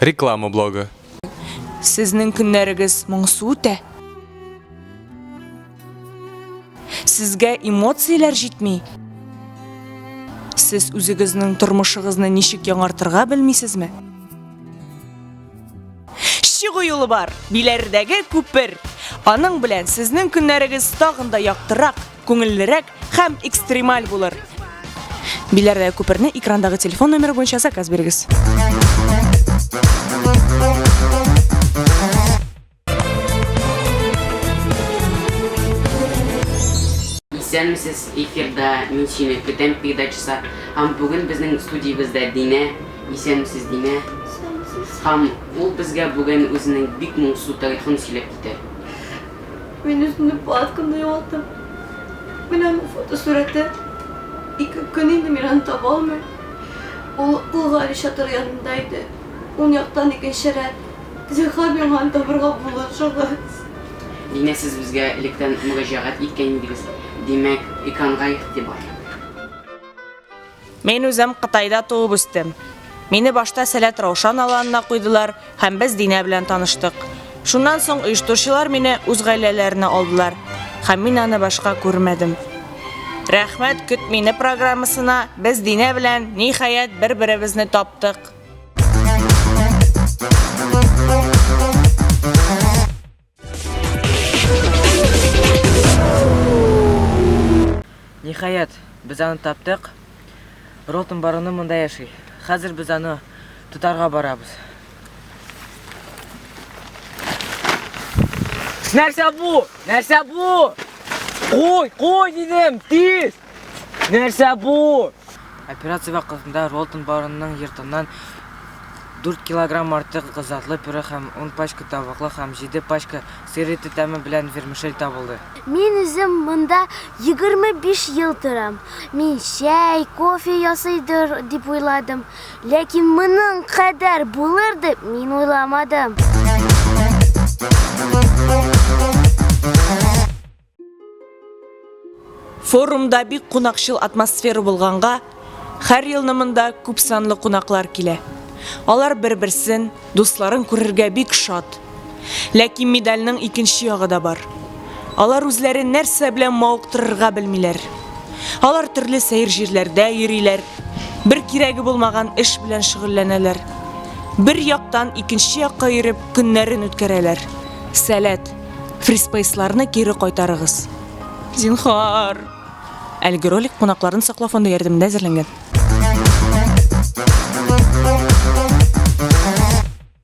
Реклама блогы. Сезнең көннәрегез моңсу үтә? Сезгә эмоцияләр җитми? Сез үзегезнең тормышыгызны ничек яңартырга белмисезме? чыгу юлы бар, биләрдәге күпер. Аның белән сезнең көннәрегез тагын да яктырак, күңеллерәк һәм экстремаль булыр. Биләрдәге күперне экрандагы телефон номеры буенча заказ бирегез. Исәнмесез, эфирда мин сине көтәм передачасы. Һәм бүген безнең студиябездә Динә. Исәнмесез, Динә. Һәм ул безгә бүген үзенең бик моңсу тарихын сөйләп китә. Мин үземнең палаткамны югалттым. Менә аның фотосурәте. Ике көн инде мин аны таба алмыйм. Ул Ул Гали чатыры янында иде. Ун яктан икенче рәт. Зинһар миңа аны табырга булышыгыз. Димәк, сез безгә электән мөрәҗәгать иткән идегез. Димәк, экранга игътибар. Мин үзем Кытайда туып үстем. Мине башта Сәләт Раушан аланына куйдылар һәм без Динә белән таныштык. Шуннан соң оештыручылар мине үз гаиләләренә алдылар һәм мин аны башка күрмәдем. Рәхмәт көт мине программасына без Динә белән ниһаять бер-беребезне таптык. Ниһаять, без аны таптык. Ротом барыны монда яши. Хәзер без аны тотарга барабыз. Нәрсә бу? Нәрсә бу? Куй, куй дидем, тиз! Нәрсә бу? Операция вакытында Ролтон барының йортыннан дүрт килограмм артык затлы пюре һәм ун пачка тавыклы һәм җиде пачка сыр ите тәме белән вермишель табылды. Мин үзем монда егерме биш ел торам. Мин чәй, кофе ясыйдыр дип уйладым, ләкин моның кадәр булыр дип мин уйламадым. Форумда бик кунакчыл атмосфера булганга, хәр елны монда күп санлы кунаклар килә. Алар бер-берсен, дусларын күрергә бик шат. Ләкин медальнең икенче ягы да бар. Алар үзләрен нәрсә белән мавыктырырга белмиләр. Алар төрле сәер җирләрдә йөриләр, бер кирәге булмаган эш белән шөгыльләнәләр. Бер яктан икенче якка йөреп көннәрен үткәрәләр. Сәләт. Фриспейсларны кире кайтарыгыз. Зинхар. Әлеге ролик кунакларын саклау фонды ярдәмендә әзерләнгән.